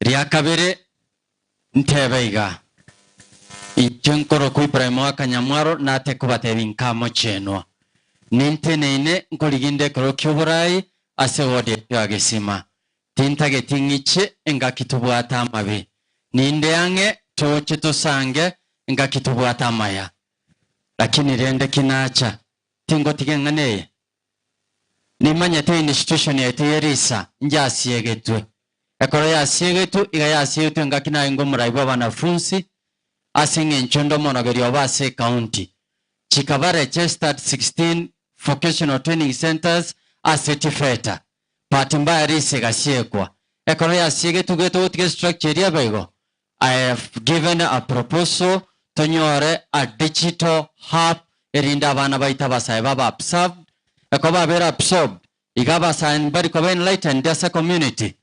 Ria kabere, ntebe iga, Inche nkorokwa Ibrahim o Akanyamwaro nate kobatebi nka mochenwa, ninteneine nkoriginde ekero ki'oboraai ase ward yaito ya Gesima. Tintageti ng'iche engaki tobwate amabe. Ninde ang'e toche tosange engaki tobwate amaya. Lakini rende ki nacha, tingotiga eng'ana eye. Nimanyete institution yaito ye Risa njasiegetwe. Ekero yasiegetwe, iga yasiegetwe ngaki naye ng'o morai bw'abanafunsi ase eng'encho nde omooroberio obo ase ecounty. Chikaba registered 16 vocational training centres ase Tifeta. Bahati mbaya Risa egasiekwa. Ekero yasiegetwe igo etogotiga estructure eria ebe igo, I have given a proposal tonyore a digital hub erinde abana baito abasae babe absorbed, ekero babere absorbed iga abasae mbari koba enlightened ase community.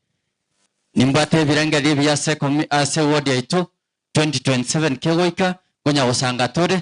Nimbwate ebirengerio ebiya ase commu- ase ward yaito 2027 kegoika nkonya gosanga tore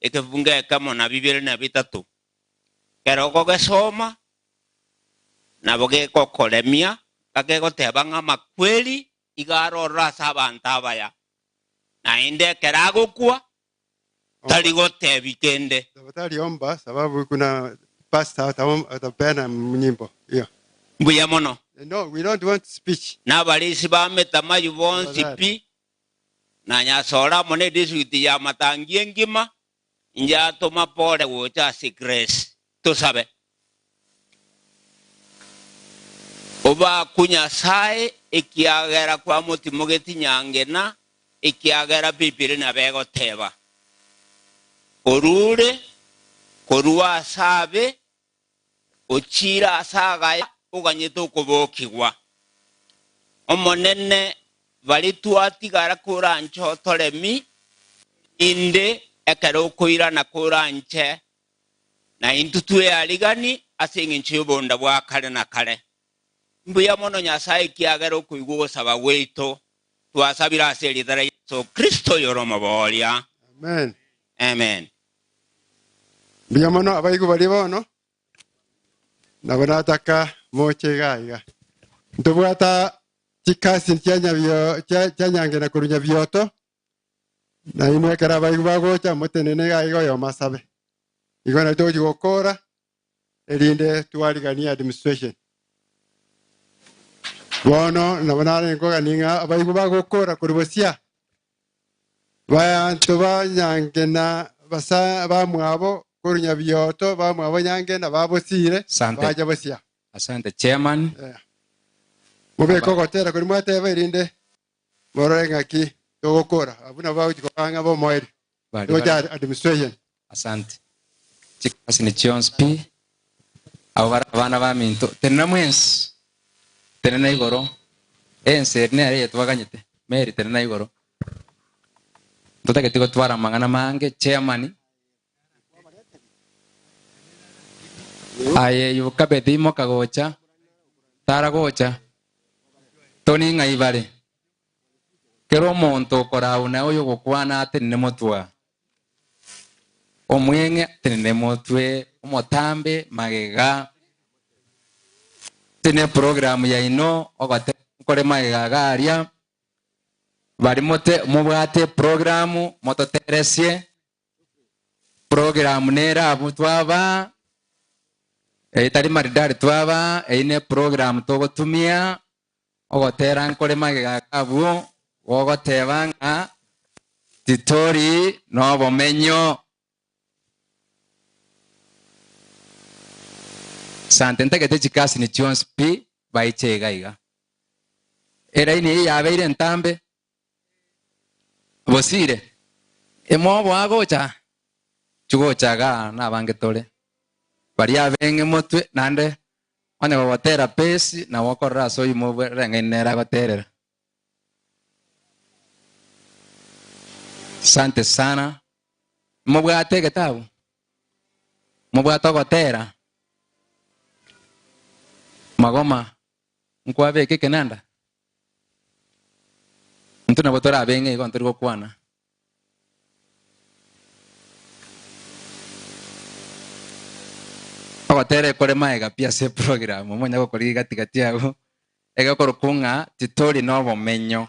ekebugu ng'ekemo na bibere na bitato, kere okogesoma nabo gegokoremia, gakegoteba ng'a amakweri iga are ororo ase abanto abaya, naende ekero agokwa tari gotebi kende. Tabata riomba sababu kuna pastor atabo- atapeana nyimbo hiyo. Mbuya mono. No, we don't want speech. Nabarisi ba ametamayo bonsi Tafadhali. pi, na nyasore amo nedistrikti ya Matangi engima, injatoma Pole gocha ase Gresi. Tosabe. Obakwe Nyasae, ekiagera kwamotimogeti nyangena, ekiagera Biblia nabo egoteba, Orure korwa ase abe, ochiire ase agaya oganyete okobokigwa. Omonene, baria twatigara koranche otoremi, erinde ekero okoirana koranche, naintwe twearigani ase engencho y'obonda bwa kare na kare. Mbuya mono Nyasae ekiagera okoigwa ogosaba gwaito, twasabire ase eritara Yeso Kristo oyore omobooria. Amen. Amen. Mbuya mono abaigwa baria bono nabo nataka moche iga iga ntobwata chikasi chia nyabio- chia- chia nyange na korwa nyabioto nainwe ekero abaigwa bagocha motenene iga iga oyomo asabe igo nari togochi gokora erinde twariganie administration. Bono nabo narenge kogania ng'a abaigwa bagokora kori bosio baanto banyange na basa- bamwabo korunya bioto bamwabo nyange na babosiire Sante. bacha bosio. Asante chairman. Mobeke ogotera kori mwateba erinde Morore ng'aki togokora. Abwo nabo bagochia koba ang'e b'omoerio. Baria Togochia bare- administration. Asante. Chikasi ni chionsi pi. Abo bare abana baminto. Tenena mwensi. Tenena igoro. Ense eri nere eyetwaganyete. Mary tenena igoro. Totageti gotwara amang'ana mange chairman. Aye Yokabedi imoka gocha, tara gocha, toni ng'a ibare. Kera omonto okorauna oyogokwana atenene motwe, omweng'e atenene motwe, omotambe magega, tene program yaino ogote kore magega iga aria, bari mote mobwate program mototeresie, Program nere abwo twaba etari maridari twaba eyi ne program togotumia ogotera nkore magega abwo gogoteba ng'a titori nobomenyo. Sante ntagete chikasini chionsi pi baiche iga iga. Eraini eye yabeire entambe Bosire, imobo agocha, chigocha iga nabange tore. Baria abeng'e motwe naende onye gogotera pesi nabo okorora ase oyoma obwe reng'aini nere agoterera. Sante sana. Mobwate egetabu? Mobwate ogotera? Magoma, nkwabeke ekenanda? Intwe nabo tore abeng'e igo ntori gokwana. Ogotera ekore maega pi ase eprogram, omonyare gokorigia gati gati agwo, egekoro kung'a titori nobomenyo.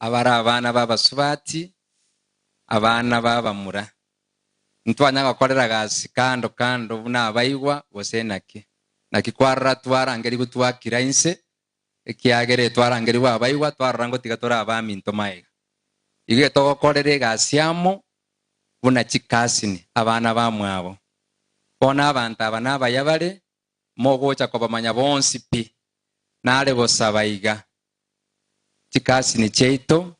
abare abana b'abasubati, abana b'abamura. Intwanyara gokorera gasi kando kando buna abaigwa, gose inaki? Naki kwarora twarangerigwe twakira inse, ekiagera etwarangerigwe abaigwa twarora ngotiga tore abaminto maiga. Igo getogokorera egasi amo buna chikasini, abana bamwabo. Bono abanto aba nabaya bare mogocha kobamanya bonsi pi. Nare gosaba iga, chikasini chiaito,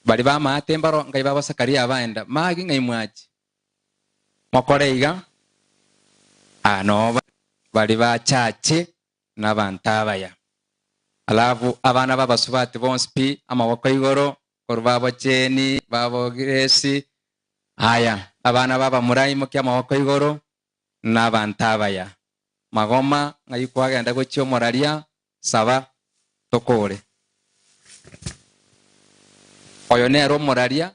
baria b'amaate mbaro ngai babo Zakaria abaenda, magi ng'ai mwachi? Mokore iga, aa noba baria bachache nabanto abaya. Alafu abana b'abasubati bonsi pi amaboko igoro, korwa babocheni, babogiresi, aya, abana b'abamura imokia amaboko igoro, nabaanto abaya, magoma ng'ai kwagenda gochia omoraria, saba, tokoore. Oyo nere omoraria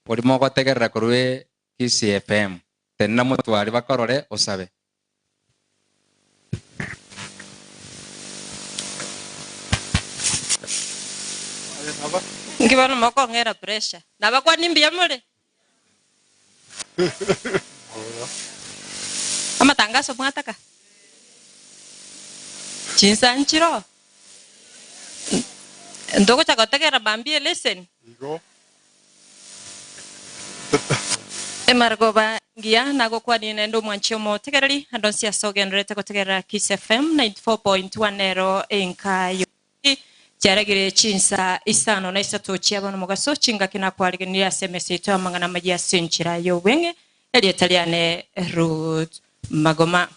oria mogotegerera korwa Kisii FM, tenena motware bakorore osabe. Inki bono mokong'era pressure? Nabakwani mbuya more? Amatangaso mwataka? Chinsa nchiro? Ntogocha gotegerera mambia eleseni? Emare koba engiya nagokwanie naende omwanchi omotegereri. Andonsi ase ogendererete gotegerera Kiss FM 94.1 nero enka y'omonto. Eki kiarageire chinsa isano na isato chi'aba nomogaso, chingaki nakwaregenire ase emesa yaito amang'ana amayia ase enchera y'obweng'e, erieta riane Ruth Magoma.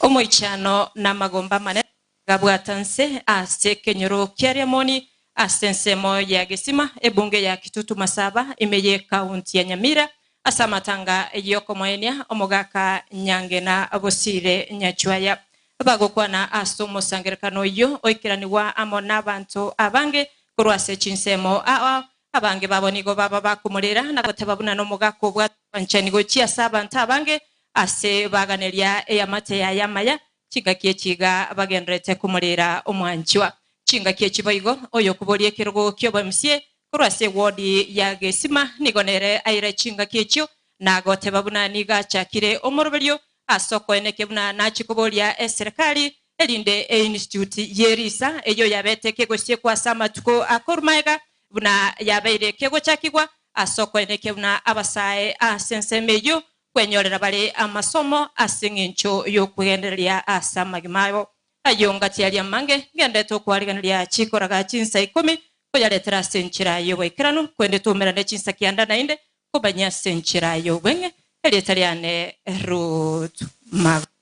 Omoichano namagomba amanene agabwata nse ase ekenyoro kia Riamoni ase ensemo ya Gesima, ebunge ya Kitutu Masaba, ime y'ekaunti ya Nyamira, ase amatanga y'okomoenia omogaka Nyangena Bosire Nyachwaya. Bagokwana ase omosangererekano oyio oikeranigwa amo nabanto abange korwa ase chinsemo, ao abange babo nigo baba bakomorera na goteba buna nomogaka obwate obwanchani gochia ase abanto abange ase baganeria eamate yaye amaya. Chingaki echi iga bagendererete komorera omwanchwa. Chingaki echi boigo, oyokoboria ekerogo ki'oboemsie korwa ase ewodi ya gesima nigo nere aire chingaki echio na goteba buna nigo achakire omoroberio Ase okoene eke buna nachie koboria eserekari, erinde einstitute ye risa eyio yabete kegosiekwa ase amatuko akoru maega buna yabeire kegochakigwa, ase okoene eke buna abasae ase ensemo eyio kwenyorera bare amasomo ase engencho y'okwegendereria ase amagima abo. Ayio ngatiaria amange, ngendete okoarigereria chikoraga chinsa ikomi, koyaretera ase enchera y'oboikeranu, kwende twaumerane chinsa kianda naende, Kobanyia ase enchera y'obong'e, erieta riane Ruth Magoro.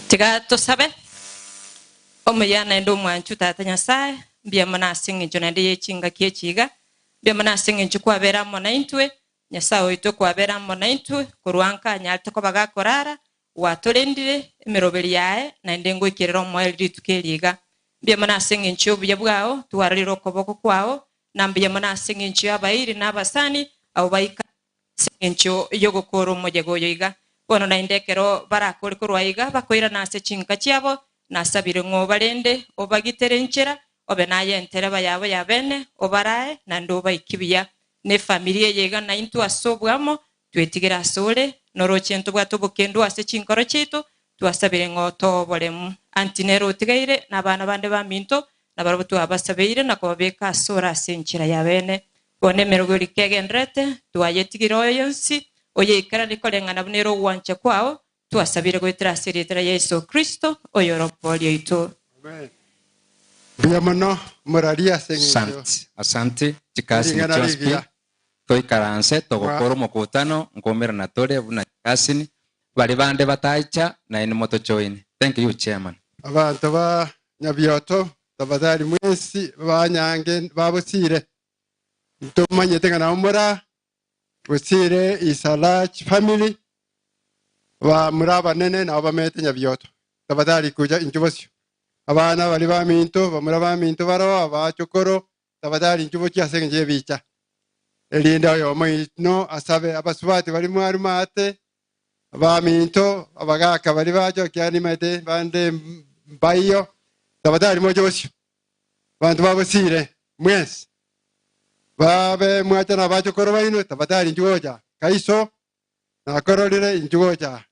Tiga tosabe. Omuya naende omwanchu Tata Nyasae, mbuya mono ase engencho naende ye chingaki echi iga. Mbuya mono ase engencho kwabera amo naintwe, Nyasae oito kwabera amo naintwe, korwa nka anyarete koba gakorara, Gwatorendire emeroberi yaye, naende ngoikerere omoerio rituko eri iga. Mbuya mono ase engencho y'obuya bwao, twarorire okoboko kwao, na mbuya mono ase engencho y'abairi na abasani abwo baikare ase engencho y'ogokoora omoyega oyo iga. Bono naende ekero barakoore korwa iga, bakoirana ase chinka chiabo na ase abireng'o barende, obagitere enchera, obe naye entereba yabo y'abeene, obaraae, naende obaike buya. Nefamiri eye iga naintwe ase oboamo, twetigere asore, noroche ntobwate obokendu ase chinkoro chiaito, twasabire ng'a otoe oboremu. Anti nere otigaire, nabana bande baminto, nabarabwo twabasabeire na kobabeka asore ase enchera y'abene. Bono emerogo eria kegenderete, twayetigire oyo yonsi oyaikaranie koreng'ana buna ere ogwancha kwao Twasabire goetera ase erieta ria Yeso Kristo, oyore omobori oito. Mbuya mono, morarie ase engencho Asante, asante. Chikasini Ering'ana chionsi pi, rigiya. toikaranse togokora omokutano nkoumerana tore buna chikasini, baria bande batacha naye nimotochoine. Thank you chairman. Abanto ba Nyabioto, tafadhali mwensi baanyange babosire. Ntomanyete ng'a nabo mora Gosire is a large family, ba muri abanene nabo bamete nyabioto, tabatari kocha inche bosio. Abana bari baminto, bamuri abaminto baroo, abachokoro, tabatari inche bochia ase engencho y'ebicha. Erinde oyomo oino asabe abasubati bari mwaruma aate, Abaminto abagaaka baria bajokia nibaete bande mbayio, tabatari moche bosio. Abanto babosiire, mwensi, babe mwacha nabachokoro baino, tabatari inchuo gocha aa. Kai iso nakororire inchuo gocha aa.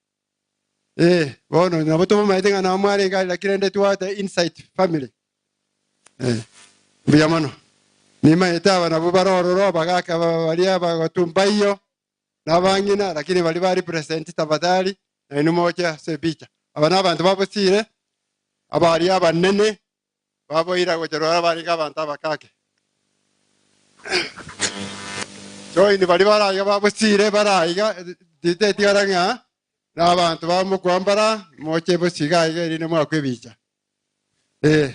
Ee, bono nabo tobomaete ng'a nao mwarenge are naki rende twate insight family. Eh, mbuya mono. Nimaete aba nabwo bare ororo abagaaka aba baria abagatu mbayio, nabang'ina, lakini baria ba represent tafadhali nainwe moche ase epicha. Aba nabanto babosire abaria abanene baboira gocha rora barenge abanto abakake. Join bari baraiga babosire baraiga titetigara ng'a nabanto bamokwambara moche bosiga aiga erinde mwakwa ebicha. Eh.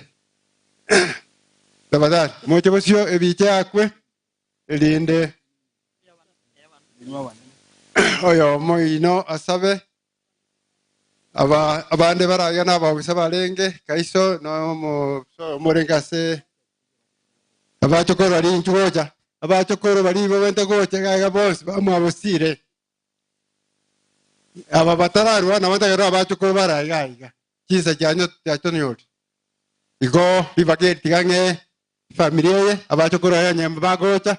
Tafadhali moche bosio ebicha yakwe erinde oyomo oino asabe. Aba abande barage nabagusa barenge kaiso nomosoe omorenge ase abachokoro baria inchu gocha abachokoro baria ibabente gocha egaiga bonsi bamwabosire aba batararwa nabo ntakerora abachokoro bare aiga aiga chinsa chianyu chiachonyori igo ribaga eri tiga ng'e Efamiri eye, abachokoro baye onye bagocha,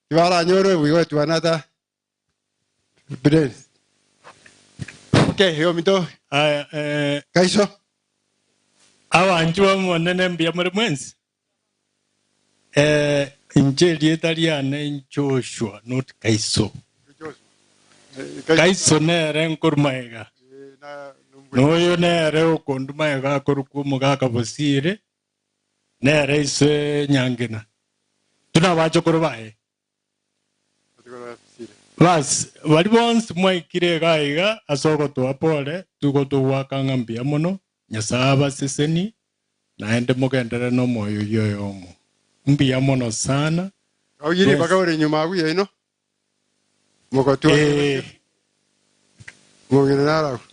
tibaranyore obuya gotuana ata evidence. Omokia oye ominto Aya, eh, kaiso. Abanchwa b'Omonene mbuya more mwensi. Eh, inche erieta riane Joshua, not Kaiso. Kaiso nere nkoruma iga, na oyo nere okonduma iga akorokwa omogaka Bosiri, Nere ise nyangena, intwe nabachokoro baye. Bas, baria bonsi mwaikire iga iga ase ogotoa pole, tigotogoaka ng'a mbuya mono, Nyasae abasesenie, naende mogenderere nomoyo oyio oyomo. Mbuya mono sana. Ee,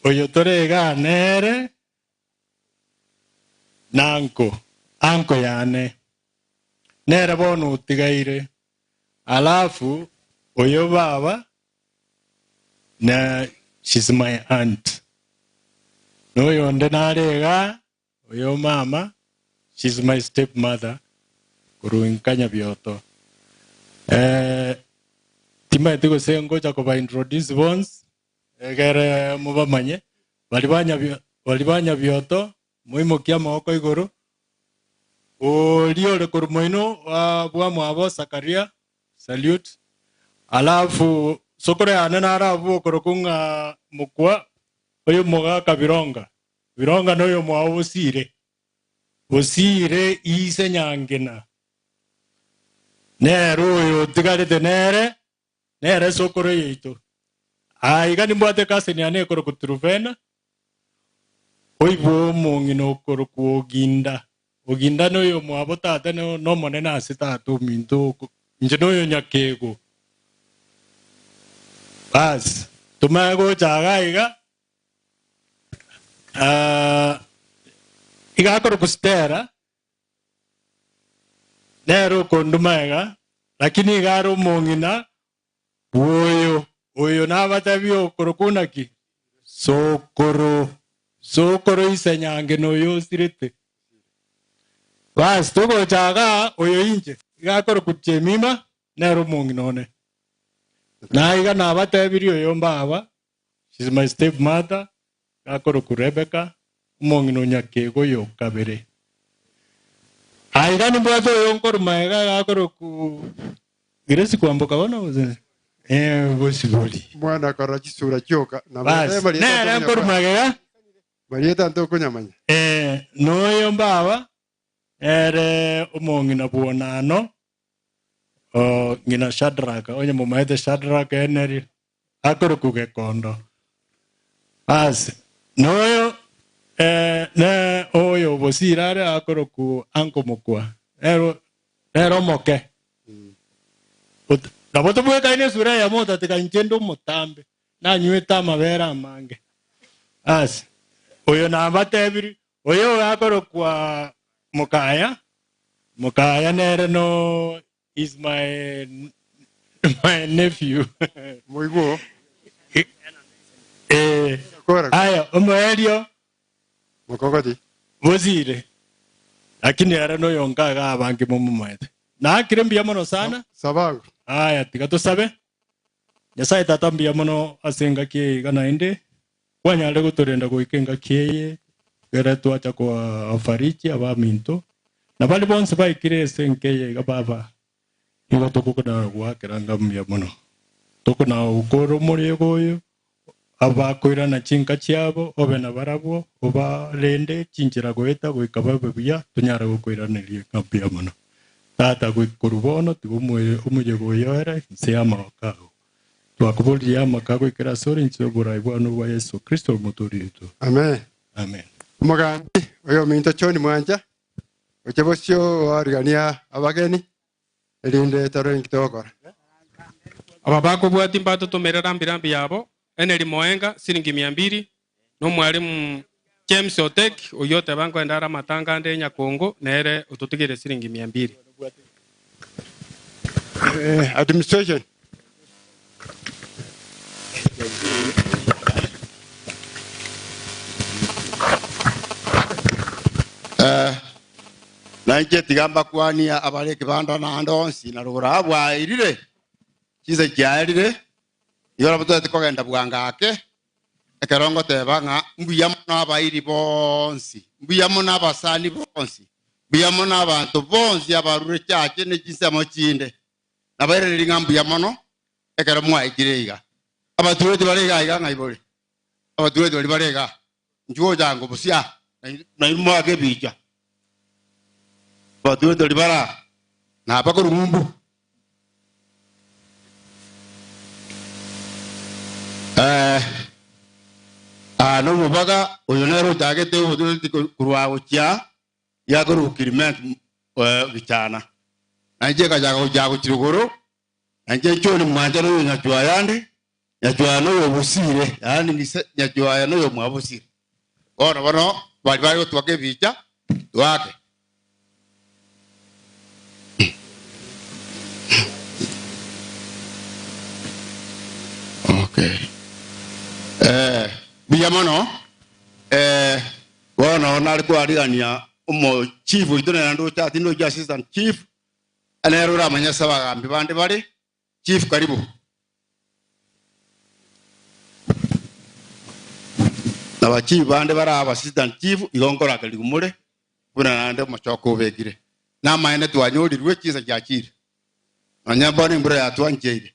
oyio tore iga nere Nanko, anko yane, nere bono otigaire, alafu oyo baba na she's my aunt. Noyo onde nare iga, oyo mama she's my stepmother korwa nka Nyabioto. Eh, timaeti gose ngocha koba introduce bonsi, Egere mobamanye, baria banyabioto, moimokie amaboko igoro. Oria ore korwa moino wa bwamwabo Zakaria, Salute. Alafu sokoro yane naro abwo bokorokwa ng'a mokwa oy'omogaka Bironga. Bironga noyomwao bosiire, bosiire ise Nyangina. Nere oyo otigarete nere nere esokoro yaito. Aa iga nimbwate cousin yane ekorokwa Truvena, oibwa omong'ina okorokwa Oginda. Oginda noyomwabo tata no- nomonene ase tata ominto oko. Inche noyo nyakeego. Basi, tomanye gocha iga iga, aa, iga akorokwa Stella, Nere okondu magega, lakini iga are omong'ina bw'oyo oyo nabatebi okorokwo naki? Sokoro. Sokoro ise nyange noyo osirete. Basi togocha iga oyo inche iga akorokwa Jemima, nere omong'ina one. Na iga nabatebirie oyomba aba, She's my step mother, gakorokwa Rebecca, omong'ina o nyakeego oyo o kabere. Aye iga nimbwate oyo nkorwa magega gakorokwa Grace kwamboka bono gose? Eh, bosibori. Omwana akora chisura chioka. Na Basi, mwarebe marieta nere nkorwa tokonyamanya. magega. Marieta ntokonyamanya. Eh, noyo mbaba. Nere omong'ina bw'onano, ng'ina Shadraka, onye momaete Shadraka eneri, akorokwa Gekondo. Aase, noyo noyo bosire are akorokwa Anko mokwa, nere omoke. Nabo tobwekaine esura eyemo otatikani kende omotambe, nanywete amabere amange. Aase, oyo nabatebirie, Oyo ogakorokwa Mokaya, Mokaya nere no is my my nephew. Moigwe oo. Eh, Kora. aya omoerio Mokogoti. bosire, lakini ere noyonka iga abange momomoete. Nakire mbuya mono sana. Sabagu. Aya tiga tosabe. Nyasae Tata mbuya mono ase engaki eye iga naende, kwanyarire gotorenda goika engaki eye ekero twacha koafariki abaminto, na baria bonsi baikire ase enka eye iga, Baba, nigo tokonagoakera ng'a mbuya mono. Tokonagokoora omorego oyo, abakoirana chinka chiabo, obe nabarabwo, obarende chinchera goeta goika babe buya, tonyare gokoiraneria ng'a mbuya mono. Tata, goika korwa bono tiga omoyega oyo ere inse y'amagoko ao. Twakoboririe amaka agoikera asore inse y'oboraai bwane obwa Yeso Kristo Omotoori oito. Amen. Amen. Omogambi oyominto John Mwanja, oche bosio oarigania abageni. erinde torore inki togokora. Aba bakobwatia mbatotomere rambirambi yabo, Henry Moenga, siringi mia mbiri, na Omwalimu James Otek, oyio oteba nkoende are amatanga ande Nyakongo, nere ototigeire siringi mia mbiri. Administration Eh, nainche tiga mbakwanie abare ekebanda naende onsi na rogoro aa bwaerire chinsa chiaerire igo nabo totete kogenda bwango ake ekero ngoteba ng'a mbuya mono abairi bonsi mbuya mono abasani bonsi mbuya mono abanto bonsi abarure chache ne chinsemo chinde Nabairanerie ng'a mbuya mono ekero mwaikire iga. Abatureti bare iga aiga ng'a ibori. Abatureti baria bare iga, inchuo gocha ango bosio aa, na inwe moake ebiicha. Abatureti baria bare aa, nabakorwa ng'umbu. Eh, aa nomobaga oyo nere ochagete obotureti korwa gochia giakorokwa Kilimenti ogichana, na inche nkachaka gochia gochia igoro, na inche nchore mwancha noyo nyachwaya ande, nyachwaya noyo obosire, yaani ng'ise nyachwaya noyo mwabosire. Bono bono bari bare gotwaka ebicha, twake. Okay. Eh, buya mono eh, Bono nare kwarigania omo chief oito nere naende ocha tinde oichia assistant chief aye nere oramanye ase abagambi bande bare chief karibu na ba chief bande bare aba assistant chief igo nkorakerigwe more buna naende omochoka obekire namaene twanyorirwe chinsa chiachire nonya bono embura yatwancheire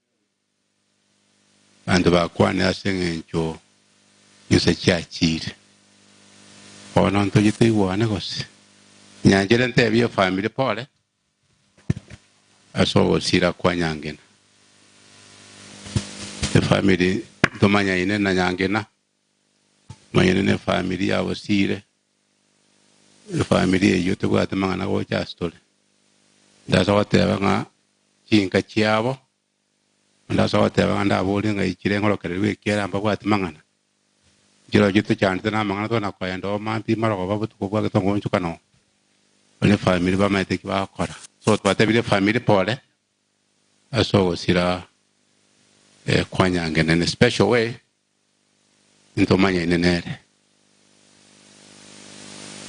Abanto bakwane ase engencho inse chiachiire. Bono ntoche toigwane gose? Nyanchete ntebie efamiri pore ase ogosira kwa Nyangena. Efamiri ntomanyaine na Nyangena. Manyene ne family yabo siire, efamily eyio tebwate mang'ana gocha asitore. Ndase goteba ng'a chinka chiabo, ndase goteba ng'a ndabore ng'a ichire ng'orokererwe ekiara mbabwati mang'ana. Nchiro echio tochandete na amang'ana tokona koenda oo mampi mara koba botuko bwa getonga oonchokana oo. Abwo ne family bamanyete eki bagokora. So twatebire family pole ase ogosira kwanyangenena in a special way. Ntomanyaine nere.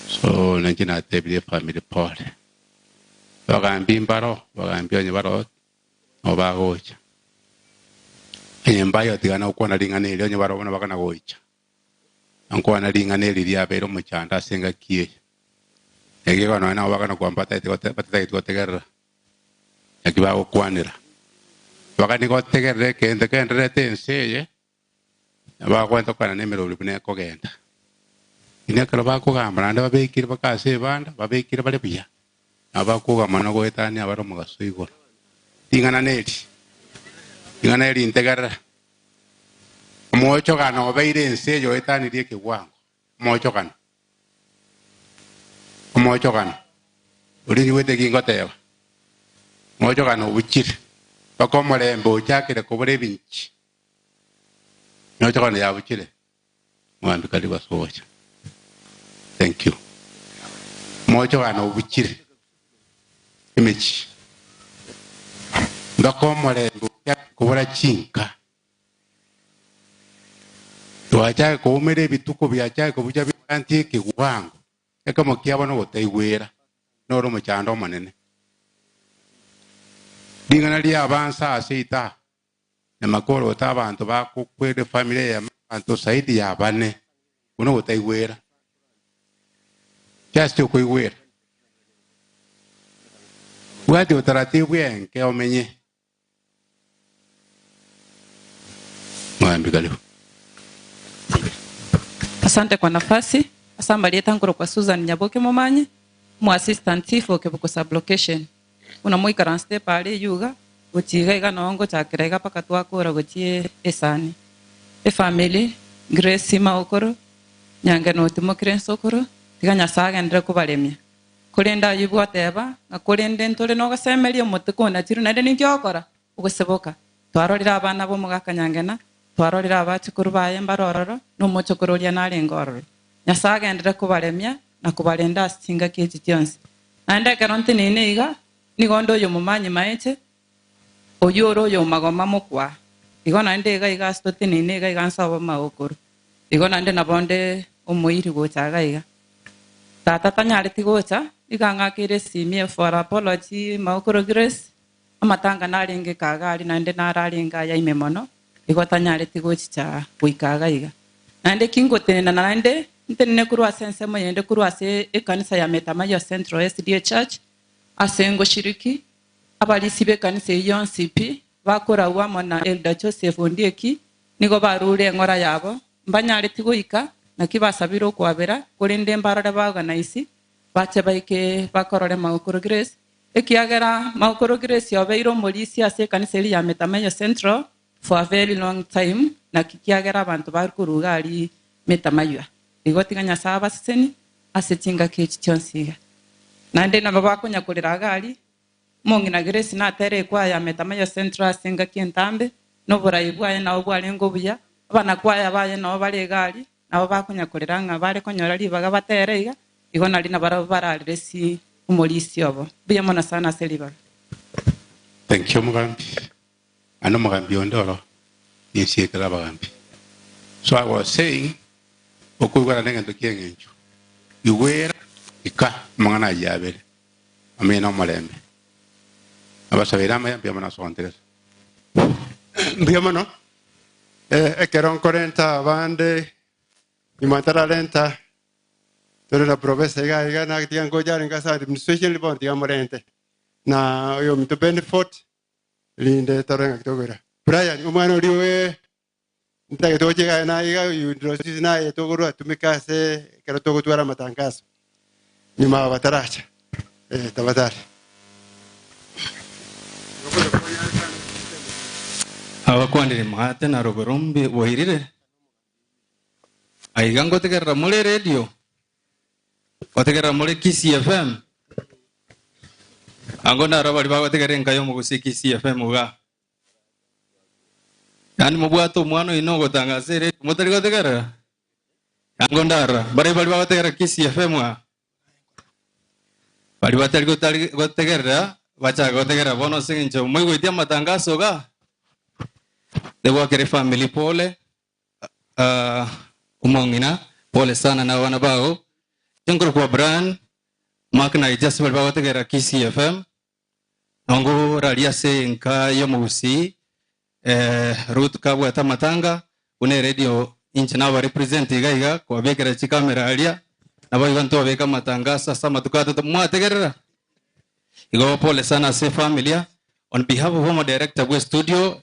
So ninche natebirie efamiri pole. Bagambia imbaro, bagambia onye baro nabo bagocha. Onye mbaye otigana gokwana ring'ana erio onye barobwo nabagana gocha. Nkwana ring'ana eri riabeire omochando ase engaki eye. Ekiagera nonya nabo bagana kwambata batageti gotegerera. naki bagokwanera. Abagani gotegerera egento gendererete ense eye, na bagwenta okogenda nemerori buna ekogenda. Lakini ekero bakogamba naende babekire baka ase ebanda, babekire bare buya, nabo bakoga mono na goetania bare omogaso igoro. Ring'ana neri, ring'ana eri ntegerera, omogochogano obeire ense eye oetanirie ekegwango, omochokano. Omochokano oria nyigwete ki ngoteeba, omochokano obuchire mpaka omorembe ochakire kobora ebinchi, omochokano yabuchire mwambie karibu ase ogocha. Thank you. Omochokano obuchire emechie mpaka omorembe ochakire kobora chinka Twachake koumera ebituko biachake kobucha birantie ekeguango, ekemo kiabo nogotaigwera, noro omochando omonene. Ring'ana riabansa ase ita na makoro ota abanto bakokwere family ya abanto saidi ya bane buna ogotaigwera. Just okoigwera. Bwati otaratibu enke omenye. Mwambi karibu. Asante kwa nafasi. Ase amarieta nkorokwa Susan Nyaboke Momanyi, omo assistant chief o Kebuko sub-location. Buna moikaransete epa aria eyio iga, gochia iga iga noo ngochakera iga mpaka twakora gochia esani. Efamily, Grace Sima Okoro, Nyangenoti Mokirensi Okoro, tiga Nyasae agenderere kobaremia. Korende Ayubu ateeba ng'a korende ntore nogosemeria omotwe konachiru, naende ninki ogokora? Ogoseboka. Twarorire abana b'omogaka Nyangena, twarorire abachukuru baye mbare ororo, na omochokoro oria narenge ororo. Nyasae agenderere kobaremia na kobarenda ase chingaki echi chionsi. Naende ekero nteneine iga, nigo nde oyomomanyi mache, Oyio ore oy'omagoma mokwa, igo naende iga iga ase toteneine iga iga ase abamagokoro, igo naende nabo nde omoiri gocha iga iga. Tata tanyareti gocha, nigo ang'akeire esimi efora apology magokoro grace, amatanga narenge kaa iga aria naende nararenge aya ime mono, igo tanyareti gochicha goika iga iga. Naende ki ngotenena naende, ntenene korwa ase ensemo yende korwa ase ekanisa ya Metamayiwa Central SDA Church, ase ngoshiriki, Abarisi b'ekanisa eyio yonsi pi bakoragwa amo na Elder Joseph Ondieki nigo baruure eng'ora yabo, mbanyareti goika, naki basabire okwabera, korende mbarore ba organise bache baike bakorore Maokoro Grace, ekiagera Maokoro Grace obeire omorisia ase ekanisa eria ya Metameyo Central. for a very long time, naki kiagera abanto bare koruga ari metamaywa, igo tiga Nyasae abaseseni ase chingaki echi chionsi iga. Naende nabo bakonyakorera iga ari, Omong'ina Grace natere ekwaya metamaywa central ase engaki entambe, na oborai bwaye nabo bwarenge obuya, abanakwaya baye nabo bare iga ari, nabo bakonyakorera ng'a bare konyora ribaga batere iga, igo nari nabarabwo bararire si omorisia obo. Mbuya mono sana ase ribaga. Thank you, Omogambi. Naende omogambi onde oro nensi ekero abagambi. So I was saying, okoigwa naende egento ki'engencho, igwera, ika amang'ana ayio abere, amaiyo nomorembe. Nabasabeire amaiyo mbuya mono ase ogontegerera. Mbuya mono. Eh, ekero nkorenta abande nyuma ntararenta tore na professor iga iga natiga ngocha arenge ase administration bono tiga morente na oyo ominto Benford Rinde tore ngaki tokogera. Brian, omwana oria owe, ntitagete gochia igare na iga Eudoxus naye togorwa atumeke ase ekero togotwara amatangaso. Nyuma aba bataracha. Eh, tabatari. Abakwanire mwaate na robe rombe boirire. Aiga ngotegerera more eredio, Gotegerera more Kisii FM. Ango naro abari bagotegerera enka y'omogusi Kisii FM iga. Yaani mobwate omwana oino ogotanga ase eredio motari gotegerera. Ango ndara bare bari bagotegerera Kisii FM iga. Bari batari gotari gotegerera bachaka gotegerera bono ase eng'encho moigweti amatangaso iga. Tebwakere family pole. Ah, omong'ina, pole sana na abana bao. Tinkora kwa Brian, Mark na Ija ase bari bagotegerera Kisii FM. Nongo rari ase enka y'omogusii, eh, Ruth kabwate amatanga, buna eredio inche naba represent iga iga, kwabekera chikamera aria, naboigo ntobeka amatangaso ase amatuko atato. Mwategerera? Igo pole sana ase efamilia. On behalf of omoderector bw'estudio,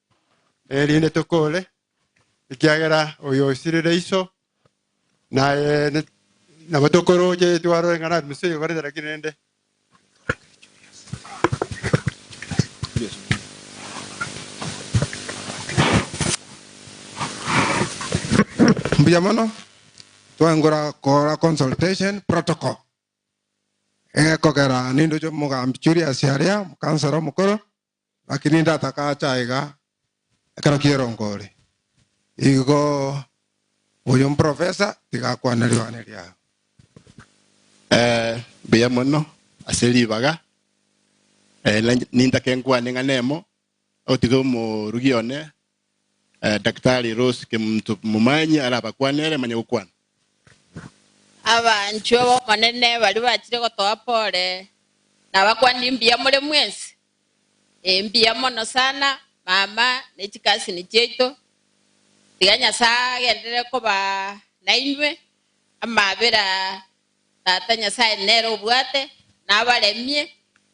erinde tokoore, ekiagera oyo osirire iso naye ne- nabo tokorooche twarore ng'a nari Musa oyobarete naki rende. Mbuya mono twangora kora consultation protocol egekogera nindoche mogambi Julius aria mokansera omokoro Naki ninde atakache aiga ekero kierongo ore? Igo oyo omprofesa tiga akwane ribane riao. Mbuya mono ase ribaga, ninde ake nkwane ng'a nemo, ogotiga omorogi one Eh, Daktari Rose Kemunto Momanyi arabakwane ere amanye gokwana. Abanchwa b'Omonene baria bachire gotoa pole, nabakwanire mbuya more mwensi. Ee, mbuya mono sana, mama ne chikasini chiaito. Tiga Nyasae agenderere koba nainwe amabera Tata Nyasae nere obwate, nabaremie,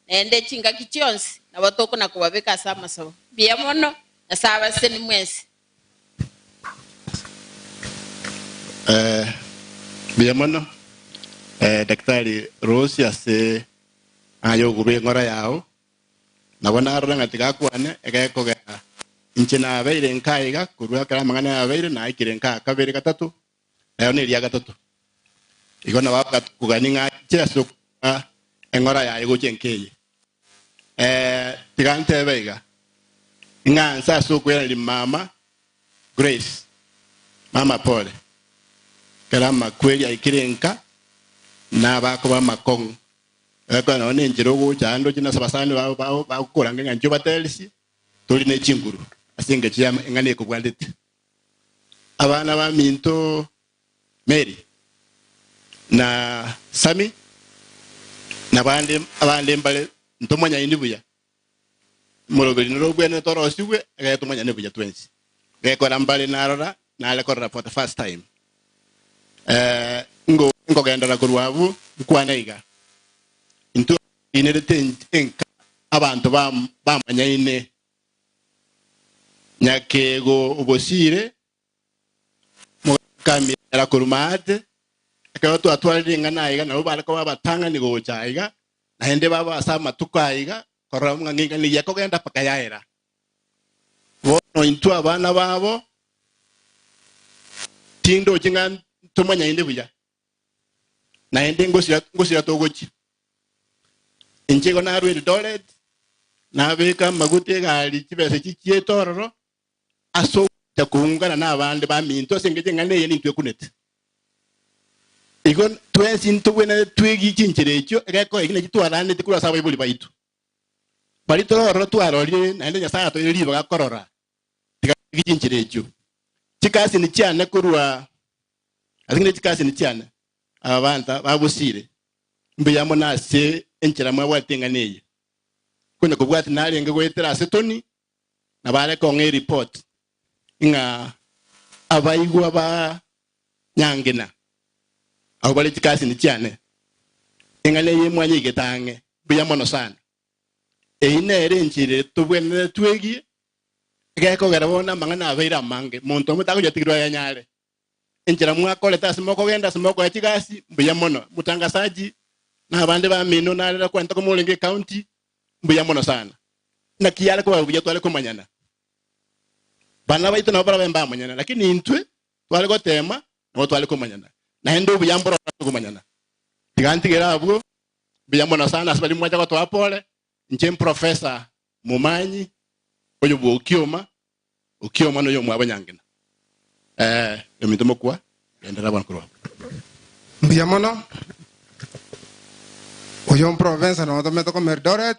naende chingaki chionsi, nabotoku na kobabeka ase amasabo. Mbuya mono, Nyasae abaseseni mwensi. Eh, mbuya mono eh, Daktari Rose ase aye ogoba eng'ora yao. Nabo narora ng'a tigakwane egekogera inche nabeire nka iga korwa ekero amang'ana yabeire naikire nka kabere gatato Rero neria gatato, igo nabo bagakogania ng'a inche ase okobua eng'ora yaye gochia nkeye. Ee, tiga ntebe iga, ing'anse ase okweraneria mama Grace, mama Pole, ekero amakweri aikire nka, nabakoba amakong'u, egakora nao nenchera ogocha ande ochende ase abasani babo bao bagokorange ng'a inche obaterisie, tori ne chinguru ase engecho ya eng'ana ekobwatete. abana baminto Meri, na Sami, na abande abande mbare ntomanyaini buya. Moroberi norogwenerete orosigwe, egere tomanyane buya twensi. Gekora mbare narora, nare korora for the first time. Eh, ngo- nkogendera korwa abwo, nkwane iga. Intwe inere te enka abanto bam- bamanyaine Nyakeego obosiire, mogaaka amiara korwa maate. Ekero twatwarire ing'ana aiga, nabwo bare koba abatang'ani gocha aiga, naende baba ase amatuko aiga, korora buna ng'a ing'ana eyio ekogenda mpaka yaera. Bono intwe abana babo, tindochi ng'a ntomanye aende buya, Naende ngosira ngosira togochia. Inche igo narua Eldoret, nabeka amaguta egari chibesa echi chiete ororo, ase ogocha koungana na abande baminto ase engecho eng'ana eye nintwe ekunete. Igo twensi ntogwenerete twegie chinchera echio egeko eki naki twaraneti korwa ase abaibori baito. Baria tore ororo twarorire naende Nyasae atoeire ribaga korora Tigatigigwe chinchera echio. Chikasini chiane korwa ase ng'ina chikasini chiane, aba baanta babosiire. Mbuya mono ase enchera mwabwatete eng'ana eye. Konya kobwati narenge goetera ase Tony na baare kong'a ereport ng'a abaigwa ba Nyangina abwo bare chikasini chiane. Eng'ana eye mwanyeigete ang'e. Mbuya mono sana. Eyio nere enchera eye tobwenerete twegie, egekogera bono amang'ana abeire amange, monto omonto takonyatigigwa ayenyare. Enchera mwakorete ase mokogenda ase mokoya chigasi, mbuya mono. Mutangasaji na abande bamino nare rero kwanyete komorenge ecounty, mbuya mono sana. Naki yare koba buya tware komanyana. Bana baito nabo barabe mbamanyana, lakini intwe tware gotema nabo tware komanyana, naende obuya mboro tore komanyana. Tiga ntigere abwo, mbuya mono sana ase baria mwacha gotoa pole, inche mprofesa momanyi, oyobua okioma, okioma na oyomwabo nyangina. Ee, ominto mokwa, genderera bono korwa abwo. Mbuya mono. Oyo mprofesa notomete koma Eldoret,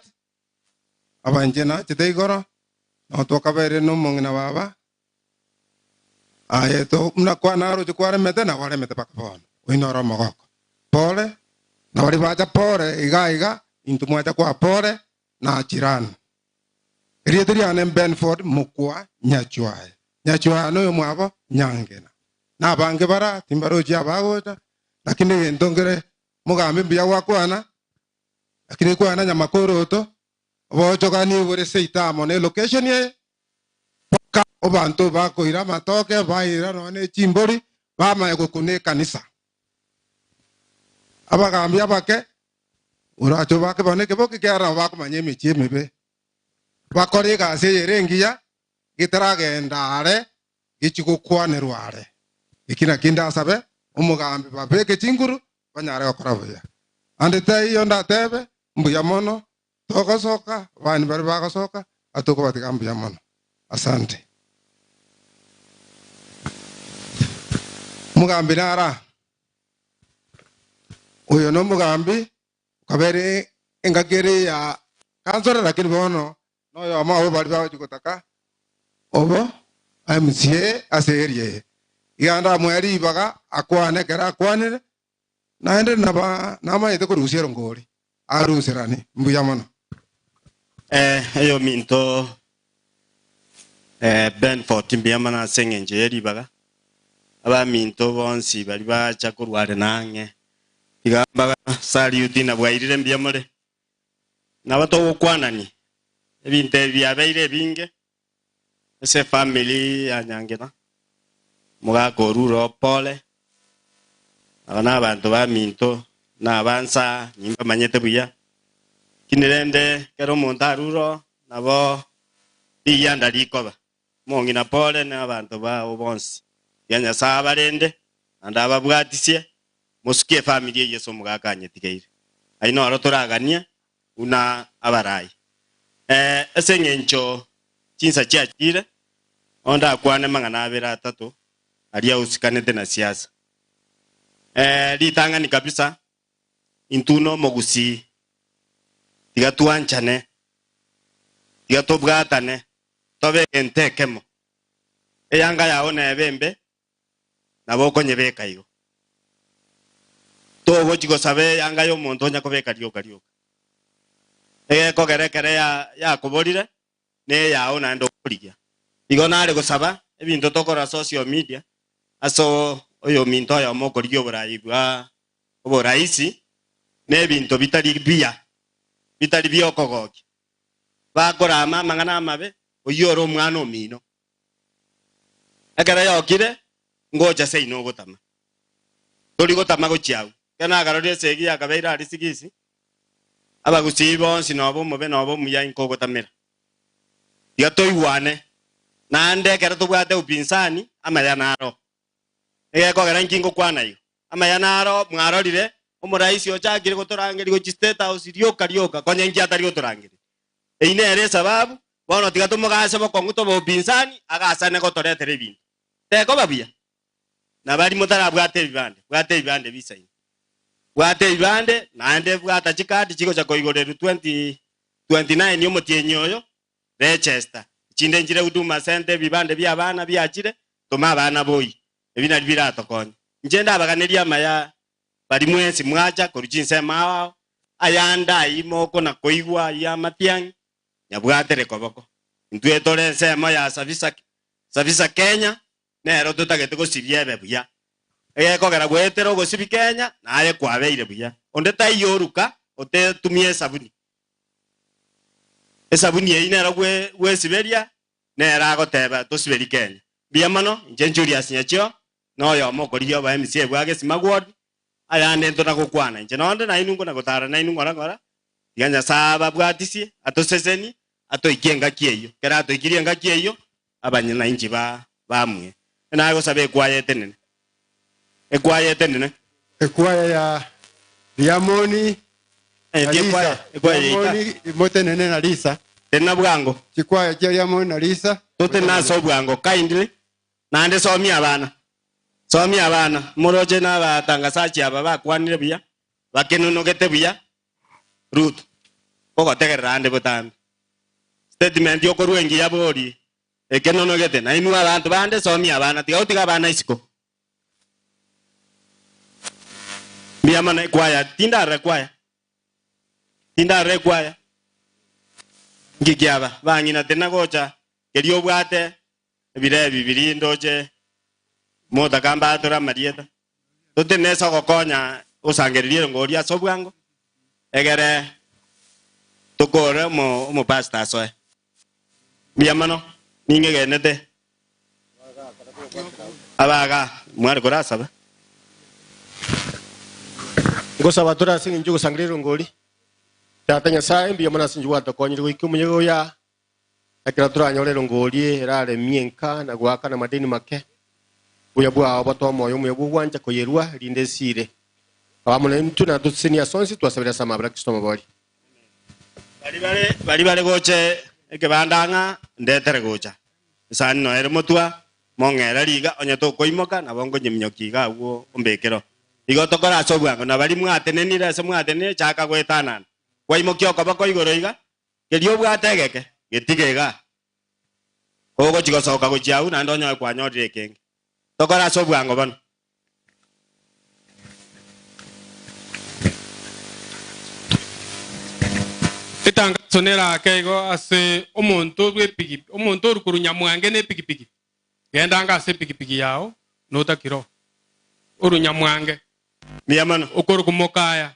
abanche nachete igoro, nao twakabaereria nomong'ina baba, aye to buna kwana aroche kwaremete nabo aremete mpaka bono, oino ore omogoko. Pore, na baria bacha pore iga iga, intwe mwacha kwa pore na jirani. Erieta riane Benford mokwa Nyachuaya. Nyachuaya noyo mwabo Nyangena. Na abange bara timbarochi abagocha, lakini egento nkere mogambe mbuya gwakwana, Lakini nkwana nyamakorooto, oboonchogani bore seita amo ne location eye, mpaka obanto bakoira amatoke, baira nonya ne chimbori, bamanye gokuna ekanisa. Abagaambi abake, orache obake bono ekeboki kiao nabo bakomanya emechie emebe, bakore egasi eye ere engiya, getaragenda are, gechie gokwanerwa are. Eki nakio indasabe, omogaambi babeke chinguru, banyare gokora buya. Naende taiyo ndatebe, Mbuya mono, togosoka, abani baria bagosoka, na tokobatiga mbuya mono. Asante. Omogambi nara? Oyo nomogambi, okabere engaki ere ya kansoro, lakini bono Noyomo abo baria bagochia gotaka obo amusie ase eria eye, iga naende amoe ribaga, akwane ekero akwanire, naende namanyete korusia erongori, aruserane. Mbuya mono. Eyominto Benford, mbuya mono ase engencho ye ribaga. Abaminto bonsi baria bacha korwa are nang'e, iga mbaga salute, nabwairire mbuya more. Nabo togokwanania ebinto ebi biabeire ebinge ase efamiri ya Nyangena, omogaka o Ruro o Pole, aba nabanto baminto na aba nsa nimbamanyete buya, lakini rende kera omonto arure oo nabo rigianda rikoba. Omong'ina Pole na abanto bao bonsi baria Nyasae abarende naende ababwatisie, mosukie efamiri ya Yeso omogaka anyetigeire. Ayio noro toraganie buna abarai. Ee, ase engencho chinsa chiachire, nao ndakwane amang'ana abere atato aria osikanete na siasa. Ee, ritang'ani kabisa Intwe nomogusii, tiga twanchane, tiga tobwatane, tobe egento ekemo. Eyanga yao nebe embe, nabo okonyebeka igo. Togochi gosaba eyanga yomonto onya kobeka rioka rioka. Egekogera ekere yakoborire, neyao naende okorigia. Igo nare gosaba ebinto tokorora social media ase oyominto oyomo okorigia oborayi bwa oboraisi na ebinto bitari biya bitari biokogokia. Bakorama amang'ana amabe oyio ore omwana omino. Ekero yokire, ngocha seino ogotama. Tori gotama gochia agwo. Ekero nagaroria esegi yakabeire aria sigisi, abagusii bonsi noba omobe noba omuya inko ogotamera. Tiga toigwane, naende ekero tobwate upinsani, amaya naro. Egekogera inki ngokwana igo? Amaya naro, mwarorire, omoraisi ochakire gotorangeria gochia state house rioka rioka, konya inki atari gotorangeria? Eyio nere esababu Bono tiga tomogaase bokong'u tobe obopinsani, agaasane gotoretera ebinto. Tekoba buya? Na baria motarabwate ebibande, bwata ebibande bisaini. Bwata ebibande, naende bwata chikaadi chigocha koigoreru 2029 omotienyi oyo, register. Echinde nchire Huduma Centre ebibande bia abana biachire, toma abana boi. Ebi nario biratokonye. Inche ndabaganerie amaya baria mwensi mwacha korwa chinsemo ao ao, ayande ayio mokona koigwa ayio amatiang'i, nyabwate rikoboko. Intwe tore ensemo ya Sabisaki, Sabisa Kenya, nero totagete gosibia ebe buya. Egekogera goetera ogosibi Kenya naye kwabeire buya. Onde taiyo oruka otetumia esabuni. Esabuni eyi nero gwe gwesiberia nero agoteba tosiberi Kenya. Mbuya mono, inche Julius Nyachio, na oyomo okorigia obaemisi ebu agesima gwori, ayande ntona gokwana inche nonde nainwe nkona gotara nainwe ng'ora ng'ora, tiga Nyasae ababwatisie, atoseseni, atoikie engaki eyio. Ekero atoikirie engaki eyio, abanyananchi ba bamue. Naki nagosaba ekwaya etenene, ekwaya etenene. Ekwaya ya Riamoni na Endi Lisa. ekwaya, ekwaya yaita. Riamoni imotenene na Lisa. Teri na bwango, Chikwaya chia Riamoni na Lisa. toteri nase obwango kindly. Naende somia abana, somia abana, imoroche nabatangasachi aba bakwanire buya, bakenunugete buya. Ruth, Ogotegerera ande botambe. Statement y'okorua engiya bori ekenunugete. Nainwe abanto bande, somia abana, tiga gotiga abana isiko. Mbuya mono ekwaya, tindarora ekwaya, tindarora ekwaya. Nki kiaba? Bang'ina tinagocha, keria obwate, ebire ebi biria indoche motaka mbaatore amarieta. Tote nese ogokonya osangereria erengo oria ase obwango, egere tokoore omo- omopastor asoe. Mbuya mono, ningegenete abaga mware korasaba. Ngosaba atore ase engencho y'ogosangereria erengo oria. Tata Nyasae, mbuya mono ase engencho gwatakonyire goika omoyega oyo aa. Ekero toranyore erongori erare emia enka na goaka namadeni make, obuya bwao bote omoyo omuya bw'ogwancha koyerua, rinde esiire. Kaba amo naintwe, na tosesenie ase onsi, twasabire ase amabera a Kristo omobori. Baria bare gocha ekebanda ng'a ndetere gocha, esani noyo ere motwa, mong'era riga, onye tokoimoka, nabo nkonyeminyokia iga agwo ombekero. Igo tokore ase obwango, na baria mwatenenire ase mwatenire, chaka goetanana, kwaimokia okoboko igoro iga, Keria obwate egeke, getige igaa. Kogochia gosoka gochia agwo naende onyoe kwanyorire ekenge. Tokore ase obwango bono. Etangaso neraake igo ase omonto bw'epiki, omonto ore korwa Nyamwange n'epikipiki, Gendaanga ase epikipiki yao, notakire oo. Orwe Nyamwange. Mbuya mono. Okore komokaaya.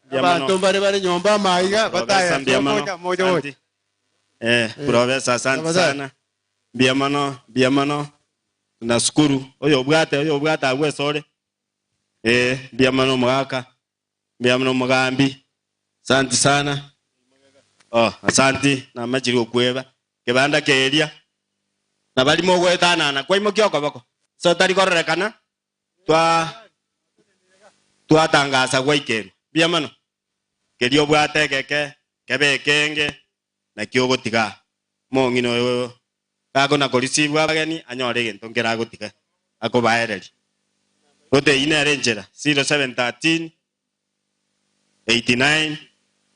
Abanto mbare bare nyomba amaiga bataya ase omoika mocha gocha. Professor asante sana mbuya mono mbuya mono nasukuru oyobwate oyobwate agwo esore eh mbuya mono omogaka mbuya mono omogambi asante sana oh asante namachire okweba kebanda keria nabari mogoetanana kwaimokia okoboko ase otari kororekana twatangasa gwaikerwa. Mbuya mono. Keria obwate egeke, kebe ekenge, naki ogotiga aa. Omong'ina oyo gakona korisibwa abageni, anyore egento nkere agotiga akobaereria. Gotee, eyio nere enchera. 0713 89